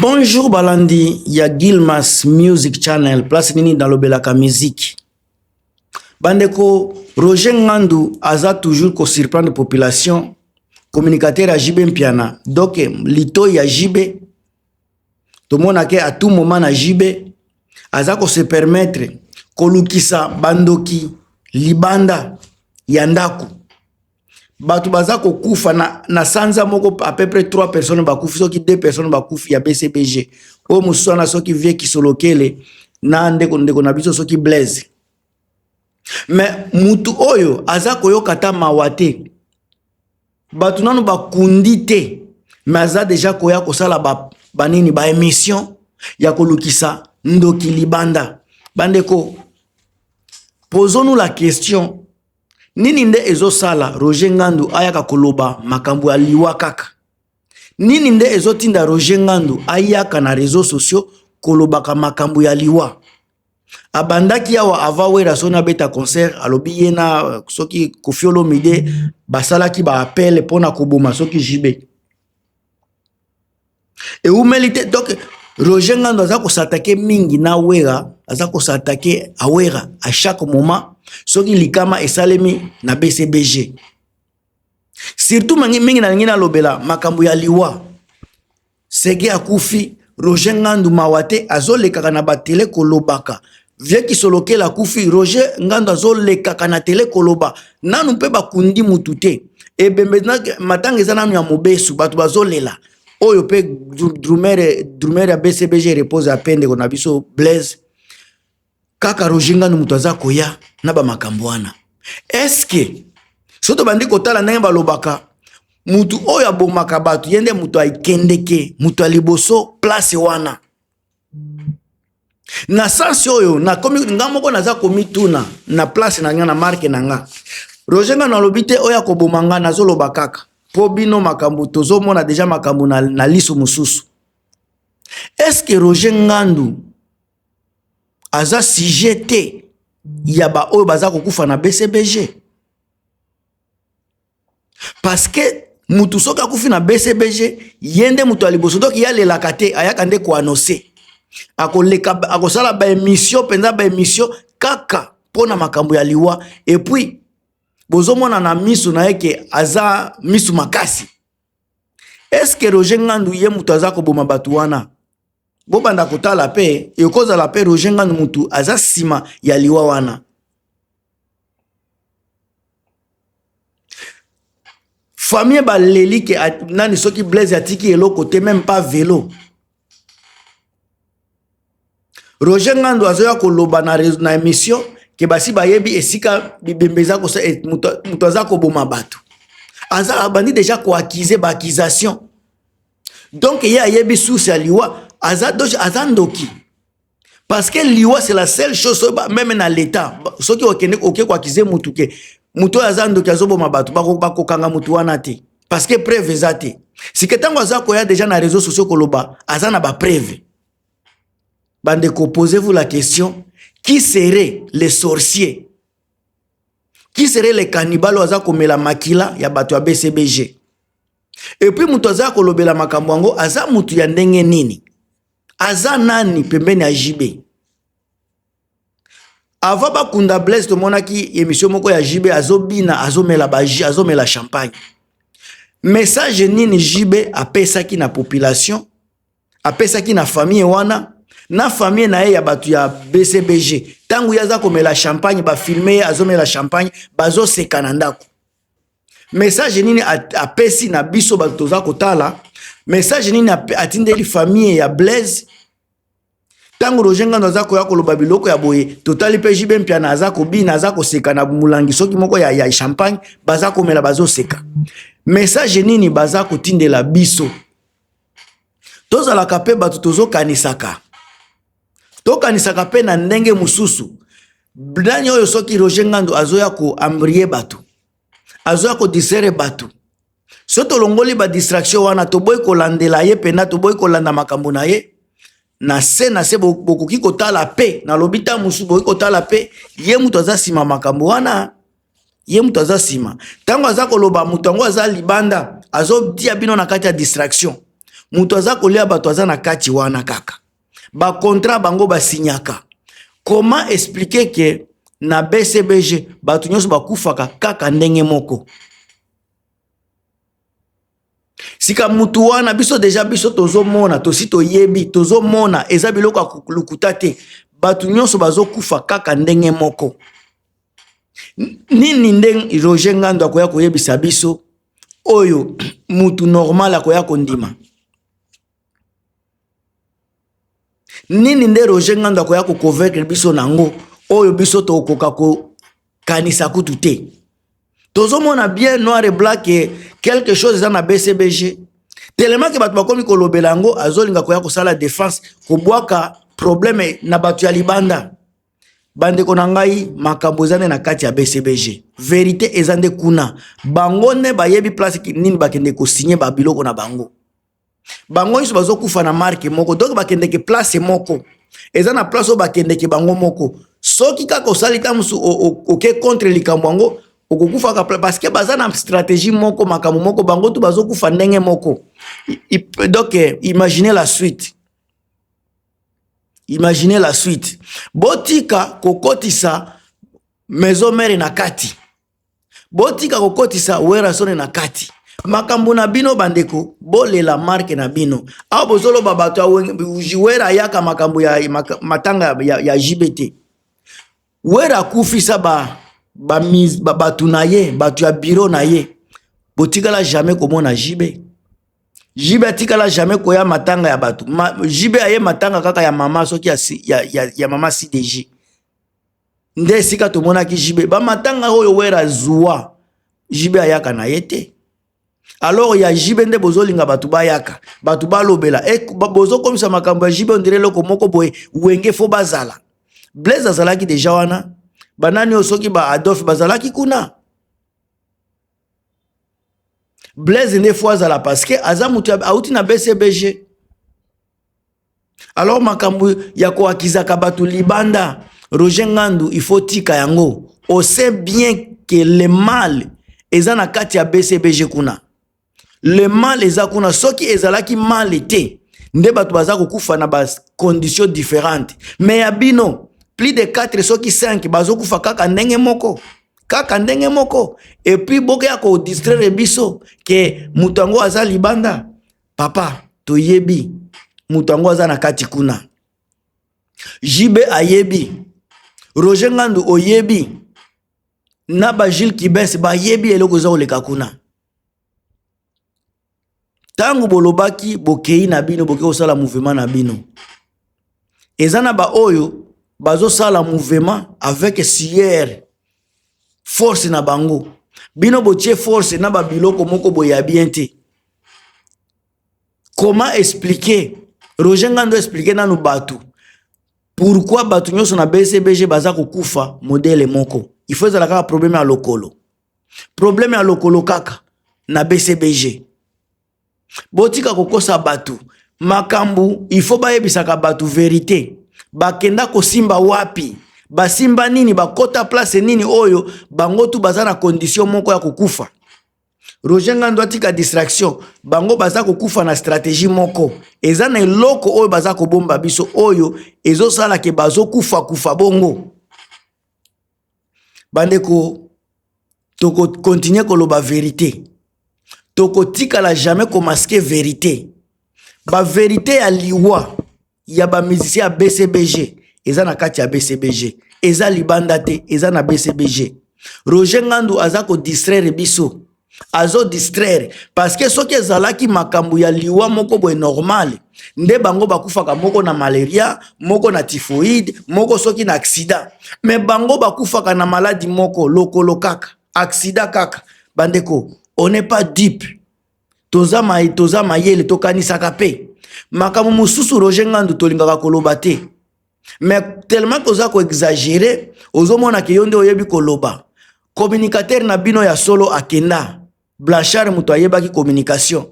Bonjour balandi ya Gilmas Music Channel, place nini nalobelaka musique. Bandeko Roger Ngandu aza toujours ko surprendre population, communicateur ya JB Mpiana. Donc lito ya JB tomonake à tout moment na JB aza ko se permettre kolukisa bandoki libanda ya ndako. bato baza kokufa na, na sanza moko à peu près 3 personnes bakufi soki 2 personnes bakufi ya bcbg oyo mosusu wana soki vie kisolokele na ndeko ndeko na biso soki blaise me motu oyo aza koyoka ata mawa te bato nano bakundi te me aza deja koya kosala banini ba baémission ya kolukisa ndoki libanda bandeko posons-nous la question nini nde ezosala roger ngandu ayaka koloba makambo ya liwa kaka nini nde ezotinda roger ngandu ayaka na réseau sociaux kolobaka makambo ya liwa abandaki awa ava wera soni abeta concert alobi ye na soki kofiolomide basalaki baappele mpona koboma soki jibe ewumeli te donc Roger Ngandu aza kosatake mingi na Wera aza kosatake Awera à chaque moment soki likama esalemi na BCBG surtout mangi mingi nalingi nalobela makambo ya liwa sege akufi Roger Ngandu mawa te azolekaka na batele kolobaka vie kisolokela akufi roger ngando azolekaka na tele koloba nanu mpe bakundi mutu te ebembe matanga eza nanu ya mobesu bato bazolela oyo mpe drumere drumere ya bcbg repose ya mpe ndeko na biso blaise kaka roger ngando moto aza koya na bamakambo wana eske soki tobandi kotala ndenge balobaka motu oyo abomaka bato ye nde moto akendeke moto ya liboso place wana na sansi oyo nga moko naza komituna na place na nga na marke na nga roger nga nalobi te oyo akoboma nga nazoloba kaka mpo bino makambo tozomona deja makambo na, na liso mosusu eske roger ngandu aza sujet te ya baoyo baza kokufa na bcbg paske mutu soki akufi na bcbg ye nde moto ya liboso doki yalelaka te ayaka nde koanose akoleka akosala baemisio mpenza baemisio kaka mpo na makambo ya liwa epuis bozomona na miso na ye ke aza miso makasi eske roger ngandu ye moto aza koboma bato wana bobanda kotala mpe ekozala mpe roger ngandu motu aza nsima ya liwa wana famille baleli ke nani soki blaise atiki eloko te meme pas velo roger ngando azoya koloba na, na émission ke basi bayebi esika bibembe eza kosa eh, moto aza koboma bato aza abandi deja koakize baaccusation donc ye ayebi source ya liwa aza, aza ndoki parce que liwa c'est la seule chose soki meme na leta soki okende oke koakize mutu ke moto oyo aza ndoki azoboma bato bakokanga moto wana te parce que preuve eza te sike ntango aza koya deja na réseau sociaux koloba aza na bapreuve bandeko posez vous la question qui serait le sorcier qui serait le cannibal oyo aza komela makila ya bato ya bcbg epuis moto aza kolobela makambo yango aza moto ya ndenge nini aza nani pembeni ya JB avant bakunda Blaise tomonaki emission moko ya JB azobina azomela baji azomela champagne message nini JB apesaki na population apesaki na famille wana na famille na ye ya bato ya BCBG ntango ye aza komela champagne bafilme ye azomela champagne bazoseka na ndako message nini apesi na biso bato toza kotala message nini atindeli famille ya blaise ntango roger ngando aza koya koloba biloko ya boye totali mpe jibe mpiana aza kobina aza koseka na molangi soki moko ya, ya champagne baza komela bazoseka message nini baza kotindela biso tozalaka mpe bato tozokanisaka tokanisaka mpe na ndenge mosusu nani oyo soki roger ngandu azoya koambrie bato azoya kodisere bato so tolongoli badistraction wana toboyi kolandela ye mpena toboyi kolanda makambo na ye na se na se bokoki kotala mpe nalobi ntango mosusu bokoki kotala mpe ye moto aza nsima makambo wana ye moto aza nsima ntango aza koloba moto yango aza libanda azotia bino na kati ya distraction moto aza kolia bato aza na kati wana kaka bakontrat bango basinyaka comment expliquer ke na bcbg bato nyonso bakufaka kaka ndenge moko sika mutu wana biso deja biso tozomona tosi toyebi tozomona eza biloko ya lokuta te bato nyonso bazokufa kaka ndenge moko nini nde roger ngando akoya koyebisa biso oyo mutu normal akoya kondima Nini nde Roger Ngandu akoya ko convaincre biso na yango oyo biso tokoka kokanisa kutu te? Tozomona bien noir et blanc que quelque chose eza na BCBG telema ke bato bakomi kolobela yango azolinga koya kosala defense kobwaka probleme na bato ya libanda. Bandeko na ngai makambo eza nde na kati ya BCBG, verite eza nde kuna, bango nde bayebi place nini bakende kosigne babiloko na bango. bango nyonso bazokufa na marke moko donk bakendeke place moko eza na place oyo bakendeke bango moko soki kaka osali ta mosusu oke contre likambo yango okokufaka parceke baza na stratégie moko makambo moko bango tu bazokufa ndenge moko donk eh, imagine la suite imagine la suite botika kokotisa maison mare na kati botika kokotisa werasone na kati makambo na bino bandeko bolela marke na bino awa bozoloba bato ya wera ayaka makambo ya matanga ya, ya jb te wera akufisa ba, ba, ba, bato na ye bato ya biro na ye botikala jamais komona jb jb atikala jamais koya matanga ya bato Ma, jb aye matanga kaka ya mama soki ya, ya, ya, ya mama cdg nde esika tomonaki jibe bamatanga oyo wera azua jibe ayaka na ye te alors ya jibe nde bozolinga bato bayaka bato balobela e, bozokomisa makambo ya jibe ondire eloko moko boye wenge fo bazala blaise azalaki deja wana banani oyo soki ba adolphe bazalaki kuna blaise nde fo azala parceke aza moto auti na bcbg alors makambo ya koakizaka bato libanda roger ngandu il faut tika yango on sait bien que le mal eza na kati ya bcbg kuna le mal eza kuna soki ezalaki mal te nde bato baza kokufa na bacondition différente mais ya bino plus de 4 soki 5 bazokufa kaka ndenge moko kaka ndenge moko epuis bokeya kodistraire biso ke moto yango aza libanda papa toyebi moto yango aza na kati kuna jb ayebi roger ngandu oyebi na bajile kibes bayebi eloko eza koleka kuna ntango bolobaki bokei na bino boke kosala mouvema na bino eza na baoyo bazosala mouvema avec siere force na bango bino botie force na babiloko moko boye ya bien te comment expliquer roger ngando expliquer nanu bato pourquoi bato nyonso na bcbg baza kokufa modele moko il faut ezala kaka probleme ya lokolo probleme ya lokolo kaka na bcbg botika kokosa bato makambo ifo bayebisaka bato verite bakenda kosimba wapi basimba nini bakota place nini oyo bango tu baza na condition moko ya kokufa roger ngando atika distraction bango baza kokufa na stratégie moko eza na eloko oyo baza kobomba biso oyo ezosala ke bazokufa kufa bongo bandeko toko continuer koloba verite tokotikala jamais komaske verite baverite ya liwa ya bamusicien ya bcbg eza na kati ya bcbg eza libanda te eza na bcbg roger ngandu aza kodistraire biso azo distraire parce que soki ezalaki makambo ya liwa moko boye normale nde bango bakufaka moko na malaria moko na typhoïde moko soki na accident me bango bakufaka na maladi moko lokolo kaka accident kaka bandeko on n'est pas dupe toza ma, toza mayele tokanisaka mpe makambo mosusu roger ngandu tolingaka koloba te mais tellement que oza koexagere ozomona ke yo nde oyebi koloba communicateur na bino ya solo akenda blanchard moto ayebaki communication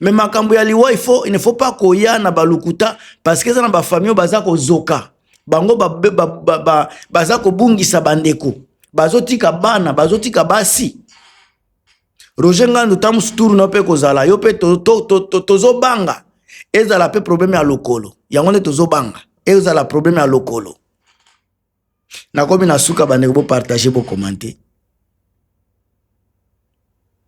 mais makambo ya liwa il faut il ne faut pas koya na balukuta parce que eza na bafamille oyo baza kozoka bango ba, ba, ba, ba, ba, baza kobungisa bandeko bazotika bana bazotika basi Roger Ngandu ta mosusu tour na yo mpe kozala yo mpe tozobanga to, to, to, ezala mpe probleme ya lokolo yango nde tozobanga ezala probleme ya lokolo nakomi na suka bandeko bopartage bokomante